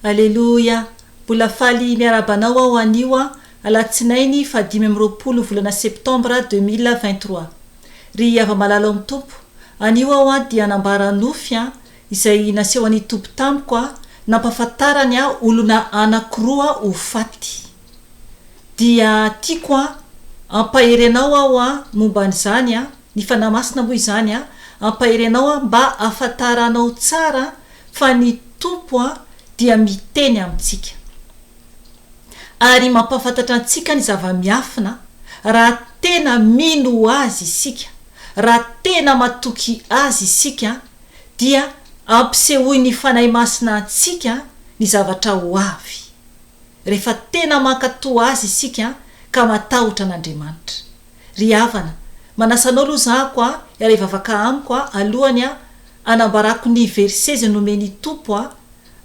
Aleloia! Mbola faly miarahaba anao aho anio an, Alatsinainy faha dimy amby roapolo volana Septambra deux mille vingt trois. Ry hava-malala ao amin'ny Tompo, anio aho an dia hanambara nofy an, izay nasehon'ny Tompo tamiko an, nampahafantarany an olona anankiroa ho faty. Dia tiako an hampahery anao aho an momba an'izany an. Ny Fanahy Masina moa izany an, hampahery anao an, mba hafantaranao tsara fa ny Tompo an dia miteny amintsika. Ary mampahafantatra antsika ny zava-miafina raha tena mino Azy isika, raha tena matoky Azy isika dia ampisehoin'ny Fanahy Masina antsika ny zavatra ho avy, rehefa tena mankatoa Azy isika ka matahotra an'Andriamanitra. Ry havana, manasa anao aloha za ako a, iaraha ivavaka amiko a, alohany a, anambarako ny versets nomen'i Tompo a,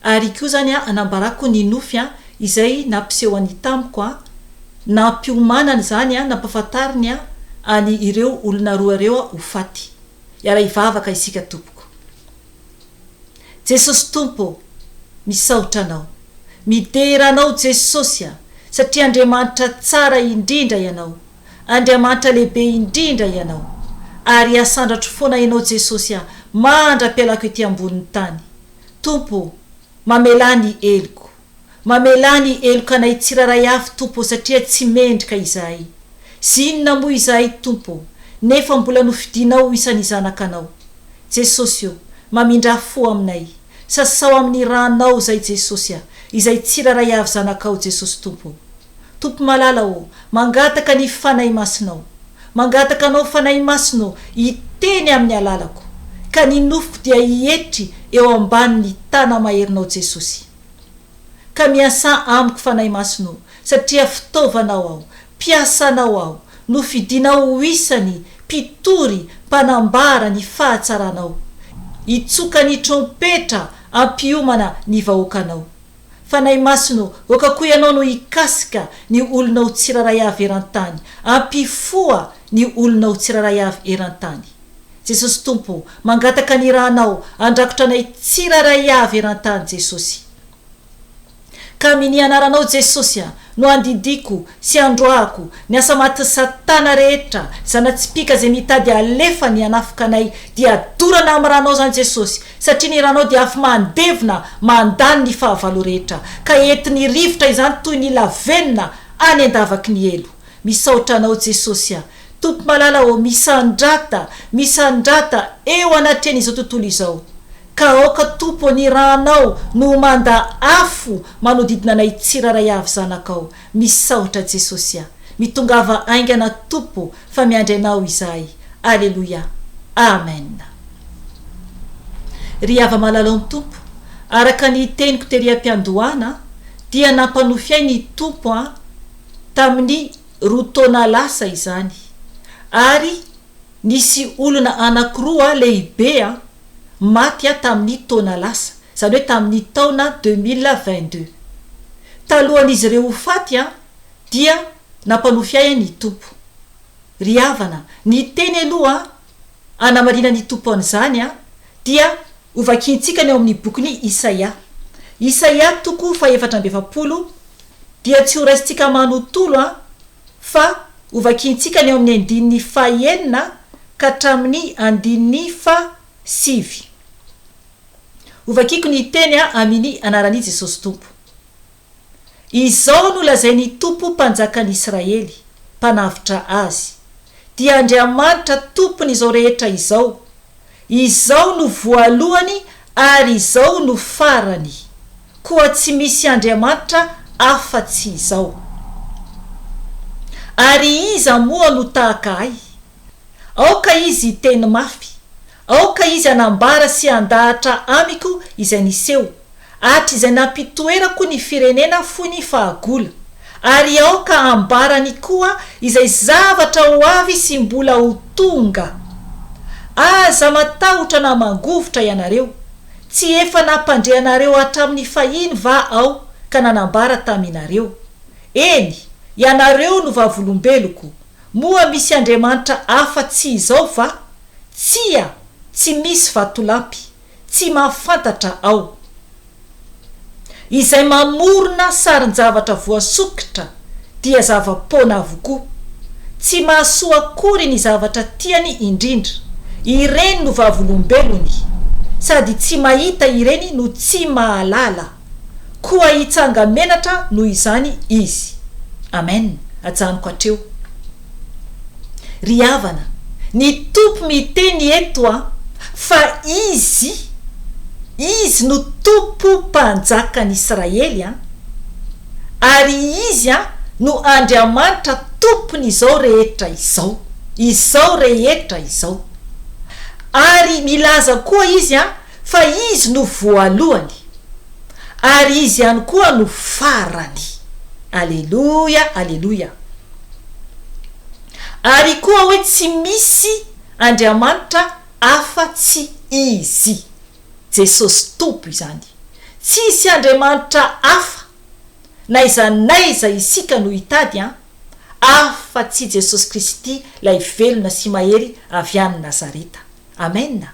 ary koa zany a, anambarako ny nofy a, izay nampisehony tamiko a, nampiomanany zany a, nampafantariny a, any ireo olona roa reo a, ho faty. Iaraha ivavaka isika tompoko. Jesosy Tompo ô! Misaotra Anao. Midera Anao Jesosy a! Satria Andriamanitra tsara indrindra Ianao. Andriamanitra lehibe indrindra Ianao. Ary hasandratro foana Ianao Jesosy a! Mandra-pialako ety ambonin'ny tany. Tompo ô! Mamelà ny heloko. Mamelà ny helokanay tsirairay avy Tompo ô satria tsy mendrika izahay sy inona moa izahay Tompo ô nefa mbola nofidinao ho isan'ny zanakanao Jesosy ô mamindrà fo aminay sasao amin'ny ranao zay Jesosy a izay tsirairay avy zanakao Jesosy Tompo ô Tompo malala ô mangataka ny Fanahy Masinao mangataka anao Fanahy Masina ô hiteny amin'ny alalako ka ny nofoko dia hietry eo ambanin'ny tana maherinao Jesosy. Ka miasà amiko Fanahy Masina o, satria fitaovanao aho, mpiasanao aho, nofidinao ho isany mpitory mpanambara ny fahatsaranao, hitsoka ny trompetra hampiomana ny vahoakanao. Fanahy Masina o, aoka koa ianao no hikasika ny olonao tsirairay avy eran-tany, hampifoha ny olonao tsirairay avy eran-tany. Jesosy Tompo o, mangataka ny ranao handrakotra anay tsirairay avy eran-tany Jesosy. Ka amin ny anaranao Jesosy a, no andidiako sy androahako ny asa matin satana rehetra, zanatsipika zay mitady halefany hanafoka anay dia dorana amin ranao zany Jesosy, satria ny ranao dia afy mandevona mandany ny fahavalo rehetra, ka entin ny rivotra izany toy ny lavenona any andavaky ny helo. Misaotra anao Jesosy a, Tompo malala ô misandrata misandrata eo anatrehan izao tontolo izao ka aoka Tompo ny ranao no ho manda afo manodidina anay tsiraray avy zanakao misaotra Jesosy a mitongava aingana Tompo fa miandry anao izahay aleloia Amen Ry Ava malalao ny Tompo araka ny teniko tery ampiandohana dia nampanofy ahy ny Tompo a tamin'ny roa taona lasa izany ary nisy olona anankiroa lehibe maty tamin'ny taona lasa, izany hoe tamin'ny taona deux mille vingt deux. Talohan'izy ireo ho faty dia nampanofy ahy ny Tompo. Ry havana, ny teny aloha anamarinan'ny Tompo an'izany dia hovakintsika ny ao amin'ny bokin'i Isaia. Isaia toko fahefatra amby efapolo dia tsy horaisintsika manontolo an, fa hovakiantsika ny ao amin'ny andininy faha enina ka hatramin'ny andininy faha sivy. Hovakiako ny hiteny an amini anaran'i Jesosy Tompo. Izao no lazain'ny Tompo Mpanjakan'i Israely, Mpanavotra azy, dia Andriamanitra Tompon'izao rehetra izao, Izao no voalohany ary izao no farany, koa tsy misy Andriamanitra afa-tsy Izao. Ary iza moa no tahaka Ahy? Aoka izy hiteny mafy, aoka izy hanambara sy handahatra amiko izay niseho, Hatrizay nampitoerako ny firenena fo ny fahagola, ary aoka hambarany koa izay zavatra ho avy sy mbola ho tonga. Aza matahotra na mangovitra ianareo, tsy efa nampandre anareo hatramin'ny fahiny va aho ka nanambara taminareo, eny, ianareo no vavolombeloko, moa misy andriamanitra afa-tsy izao va? Tsia, tsy misy vatolampy, Tsy mahafantatra aho. Izay mamorona sarin-javatra voasokitra dia zava-poana avokoa. Tsy mahasoa akory ny zavatra tiany indrindra. Ireny no vavolombelony. Sady tsy mahita ireny no tsy mahalala. Koa hitsanga menatra noho izany izy. Amen! Ajanoko hatreo. Ry havana, ny Tompo miteny eto a, fa Izy, Izy no Tompo Mpanjakan'Israely a, ary Izy a no Andriamanitra Tompon'izao rehetra izao, izao rehetra izao. Ary milaza koa Izy a Fa Izy no voalohany, ary Izy ihany koa no farany. Aleloia, aleloia. Ary koa hoe tsy misy Andriamanitra afa tsy Izy. Jesosy Tompo izany. Tsisy Andriamanitra afa, n'aiza n'aiza isika no hitady an, afa tsy Jesosy Kristy lay velona sy mahery avy any Nazareta. Amena.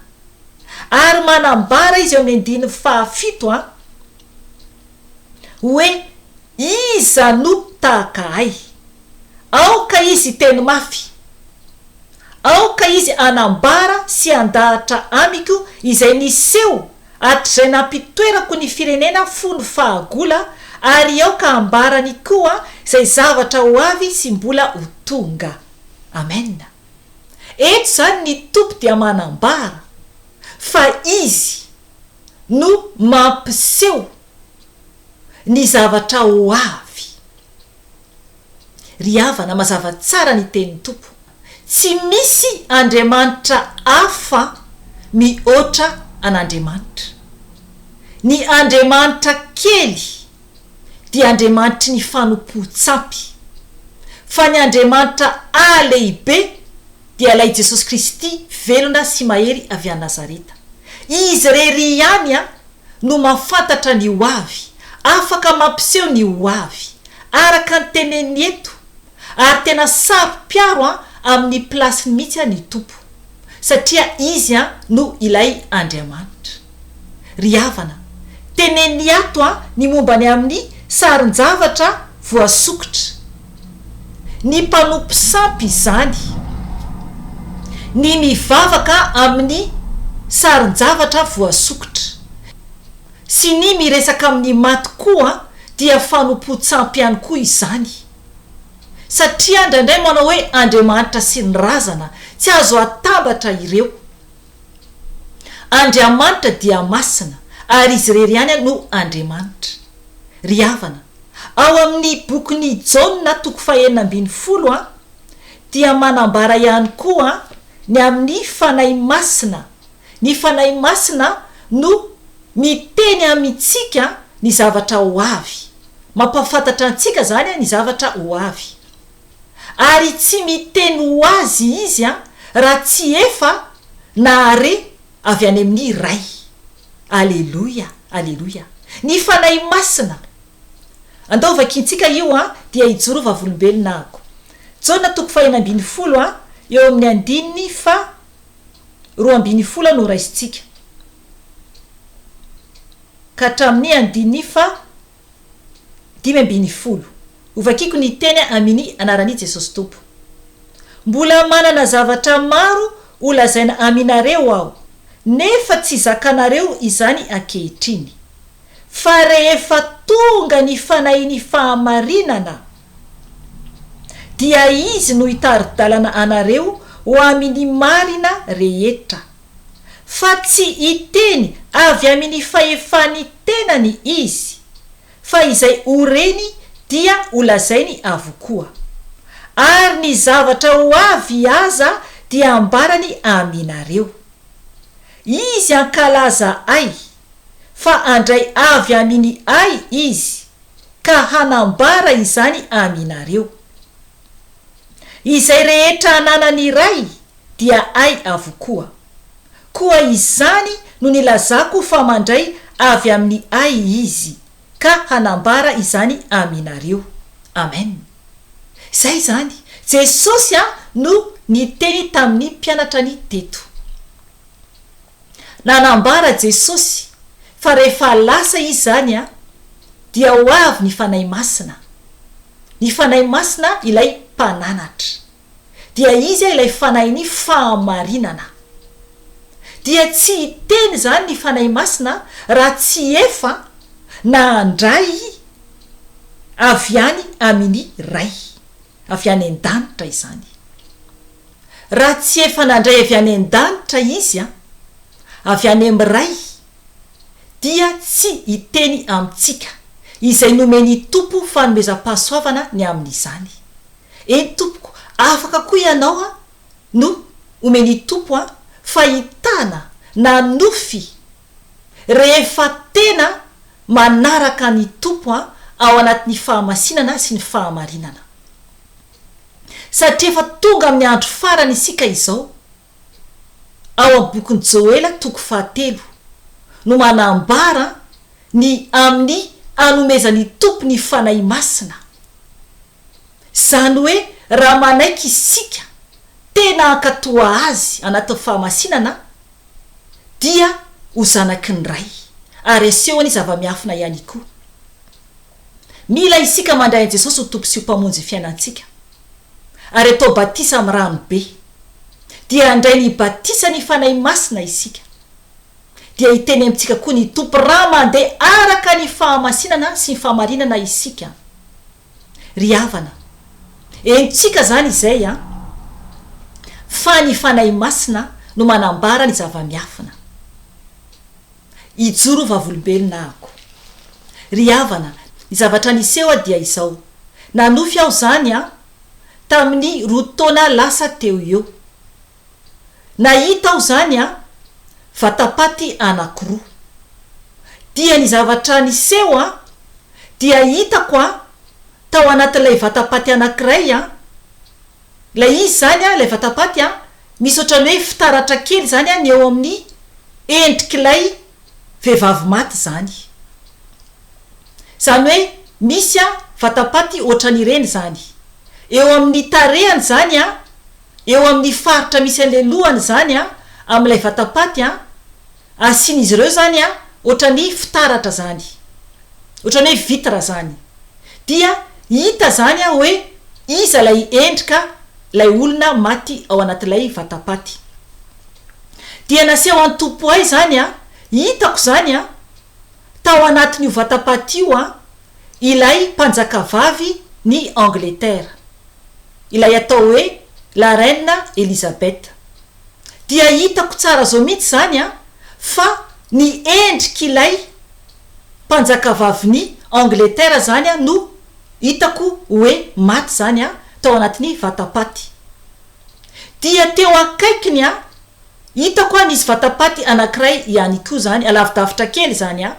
Ary manambara izy eo amin'ny andininy fahafito an, hoe Iza no tahaka Ahy? Aoka Izy hiteny mafy. Aoka Izy hanambara sy handahatra amiko izay niseho hatrizay nampitoerako ny firenena fony fahagola, ary aoka hambarany koa izay zavatra ho avy sy mbola ho tonga. Amena. Eto izany ny Tompo dia manambara fa Izy no mampiseho ny zavatra ho avy. Ry havana, mazava tsara ny tenin'ny Tompo, Tsy misy andriamanitra hafa mihoatra an'Andriamanitra. Ny andriamanitra kely, dia Andriamanitry ny fanompoan-tsampy, fa ny Andriamanitra aa lehibe dia ilay Jesosy Kristy velona sy mahery avy any Nazareta. Izy irery ihany aa no mahafantatra ny ho avy, afaka mampiseho ny ho avy, araka ny teneniny eto, Ary tena saro piaro an amin'ny plasiny mihitsy an i Tompo satria izy an no ilay Andriamanitra. Ry havana, teneniny ato an ny momba ny amin'ny sarin-javatra voasokitra. Ny mpanompo sampy izany. Ny mivavaka amin'ny sarin-javatra voasokitra. Sy ny miresaka amin'ny maty koa dia fanompoan-tsampy ihany koa izany. satria indraindray manao hoe Andriamanitra sy ny razana, tsy azo atambatra ireo. Andriamanitra dia masina ary izy irery ihany no Andriamanitra. Ry havana, ao amin'ny bokin'i Jaona toko fahenina ambin'ny folo dia manambara ihany koa ny amin'ny Fanahy Masina Ny Fanahy Masina no miteny amintsika ny zavatra ho avy. Mampahafantatra antsika izany ny zavatra ho avy. Ary tsy miteny ho azy Izy raha tsy efa nahare avy any amin'ny Ray. Aleloia! Aleloia! Ny Fanahy Masina! Andao vakintsika io an, dia hijoro ho vavolombelona ako. Jaona toko fahenina ambin'ny folo, eo amin'ny andininy faha roa amby ny fola no raisintsika ka hatramin'ny andininy faha dimy amby ny folo. Hovakiko ny teny amini anaran'i Jesosy Tompo. Mbola manana zavatra maro ho lazaina aminareo aho nefa tsy zakanareo izany ankehitriny. Fa rehefa tonga ny fanahin'ny fahamarinana, dia Izy no hitari-dalana anareo ho amin'ny marina rehetra, fa tsy hiteny avy amin'ny fahefan'ny tenany Izy, fa izay ho reny dia ho lazainy avokoa. Ary ny zavatra ho avy aza dia hambarany aminareo. Izy hankalaza Ay. fa handray avy aminy Ahy izy ka hanambara izany aminareo. Izay rehetra ananany Ray dia Ahy avokoa. Koa izany no nilazako fa mandray avy amin'ny Ahy izy ka hanambara izany aminareo. Amen. Izay izany. Jesosy no niteny tamin'ny mpianatrany teto. Nanambara Jesosy fa rehefa lasa Izy izany dia ho avy ny Fanahy Masina. Ny Fanahy Masina ilay Mpananatra. Dia Izy ilay Fanahin'ny fahamarinana. Dia tsy hiteny izany ny Fanahy Masina raha tsy efa nandray avy any amin'ny Ray avy any an-danitra izany. Raha tsy efa nandray avy any an-danitra Izy an, avy any amin'ny Ray, dia tsy hiteny amintsika izay nomen'ny Tompo fanomezam-pahasoavana ny amin'izany. Eny tompoko, afaka koa ianao an, no omen'ny Tompo an, fahitana na nofy rehefa tena manaraka ny Tompo an, ao anatin'ny fahamasinana sy ny fahamarinana. satria efa tonga amin'ny andro farany isika izao. Ao amin'ny bokin'i Joela toko fahatelo no manambara ny amin'ny hanomezan'ny Tompo ny Fanahy Masina. Izany hoe raha manaiky isika tena hankato Azy anatin'ny fahamasinana dia ho zanaky ny Ray ary asehony zava-miafina ihany koa. Mila isika mandray an'i Jesosy ho Tompo sy ho Mpamonjy ny fiainantsika, ary atao batisa amin'ny rano be. Dia handray ny batisan'ny Fanahy Masina isika. Dia hiteny amintsika koa ny Tompo raha mandeha araka ny fahamasinana sy ny fahamarinana isika. Ry havana, henontsika izany izay an! Fa ny Fanahy Masina no manambara ny zava-miafina. Hijoro ho vavolombelona ahako. Ry havana, ny zavatra niseho dia izao, nanofy aho izany an, tamin'ny roa taona lasa teo eo. Nahita aho izany an, vatapaty anankiroa. Dia ny zavatra niseho an, dia hitako an, tao anatin'ilay vatapaty anankiray an, Ilay izy izany, ilay vatapaty, misy ohatran'ny hoe fitaratra kely izany ny eo amin'ny endrik'ilay vehivavy maty izany. Izany hoe misy vatapaty ohatran'ireny izany. Eo amin'ny tarehany izany, eo amin'ny faritra misy an'ilay lohany izany, amin'ilay vatapaty, Asian'izy ireo izany an, ohatran'ny fitaratra zany, ohatran'ny hoe vitre zany, dia hita izany an hoe iza ilay endrika ilay olona maty ao anatin'ilay vatapaty. Dia naseho an'i Topoay izany an, hitako izany an, tao anatin'io vatapaty io an, ilay mpanjakavavy ny Angletera, ilay atao hoe la reine Elisabeth. dia hitako tsara zao mihitsy zany an fa ny endrik'ilay mpanjakavavin'i Angleterre zany an no hitako oe maty zany an tao anatin'ny vatapaty dia teo akaikiny an hitako an nisy vatapaty anakiray ihany koa zany alavidavitra kely zany an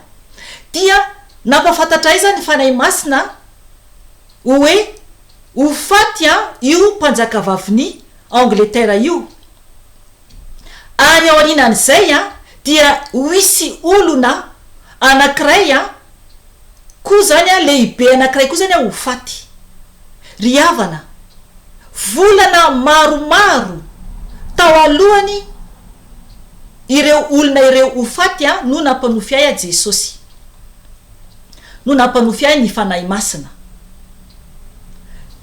dia nampafantatra ahy zany ny Fanahy Masina oe ho faty an io mpanjakavavin'i Angletera io. Ary aorianan'izay dia ho hisy olona anankiray koa izany, lehibe anankiray koa izany ho faty. Ry havana, volana maromaro tao alohany ireo olona ireo ho faty no nampanofy ahy Jesosy, no nampanofy ahy ny Fanahy Masina.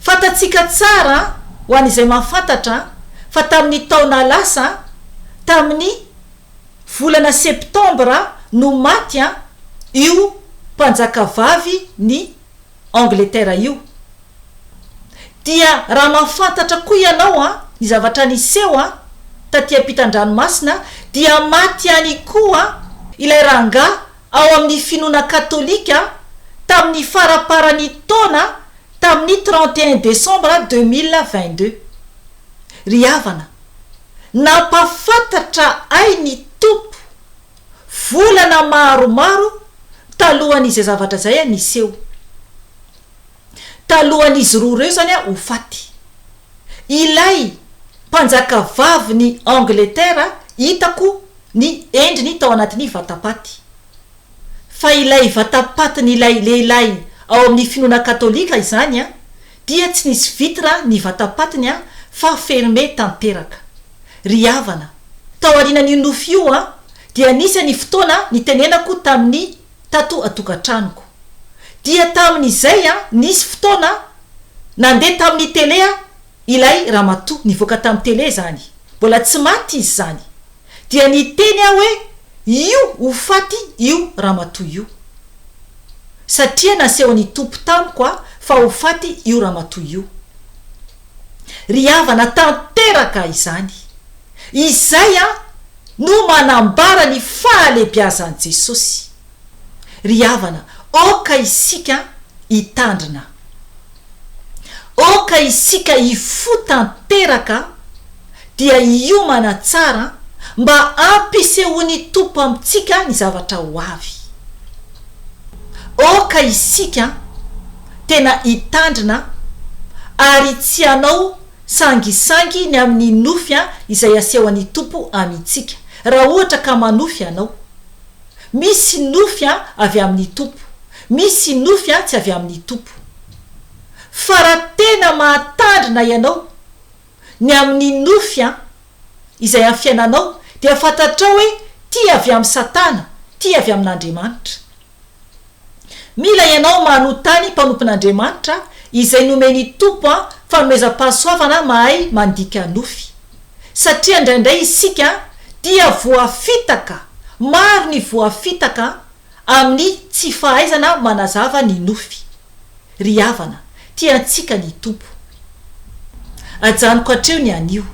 Fantatsika tsara, ho an'izay mahafantatra, fa tamin'ny taona lasa, tamin'ny volana septambra no maty io mpanjakavavy ny Angletera io. Dia raha mahafantatra koa ianao ny zavatra niseho taty am-pitan-dranomasina dia maty ihany koa ilay rangahy ao amin'ny finoana katolika tamin'ny faraparan'ny taona tamin'ny trente et un desambra deux mille vingt deux. Ry havana, nampahafantatra ahy ny Tompo, volana maromaro talohan'izay zavatra izay niseho. talohan'izy roa ireo izany ho faty. Ilay mpanjakavavin'i Angleterre hitako ny endriny tao anatin'ny vatapaty. Fa ilay vatapatin'ilay lehilahy ao amin'ny finoana katolika izany dia tsy nisy vitre ny vatapatiny fa fermé tanteraka. Ry havana, tao aorianan'io nofy io dia nisy ny fotoana nitenenako tamin'i tato an-tokantranoko. Dia tamin'izay an, nisy fotoana an, nandeha tamin'ny tele an, ilay ramatoa, nivoaka tamin'ny tele izany, mbola tsy maty izy izany. Dia niteny aho hoe, Io ho faty io ramatoa io. Satria nasehon'ny Tompo tamiko an, fa ho faty io ramatoa io. Ry havana, tanteraka izany. Izay no manambara ny fahalebiazan'i Jesosy. Ry havana, aoka isika hitandrina. Aoka isika hifoha tanteraka dia hiomana tsara mba hampisehoan'ny Tompo amintsika ny zavatra ho avy. Aoka isika tena hitandrina ary tsy hanao Sangisangy ny amin'ny nofy izay asehon'ny Tompo amintsika, raha ohatra ka manofy ianao. Misy nofy avy amin'ny Tompo, misy nofy tsy avy amin'ny Tompo. Fa raha tena mahatandrina ianao ny amin'ny nofy izay amin'ny fiainanao, dia fantatrao hoe ty avy amin'i Satana, ty avy amin'Andriamanitra. Mila ianao manotany mpanompon'Andriamanitra izay nomen'i Tompo an fanomezam-pahasoavana mahay mandika nofy. Satria indraindray isika dia voafitaka, maro ny voafitaka an, amin'ny tsy fahaizana manazava ny nofy. Ry havana, tia antsika ny Tompo. Ajanoko hatreo ny anio.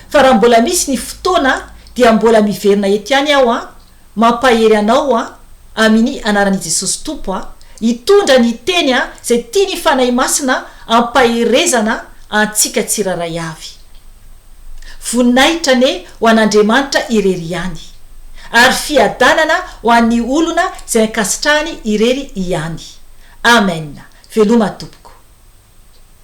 Fa raha mbola misy ny fotoana dia mbola miverina eto ihany aho an, Mampahery anao an Amini anarani Jesosy Tompo an hitondra ny teny an zay tiany Fanahy Masina ampaherezana antsika tsiraray avy. Voninahitra anie ho an'Andriamanitra irery ihany. Ary fiadanana ho an'ny olona zay ankasitrahany irery ihany. Amen. Veloma tompoko.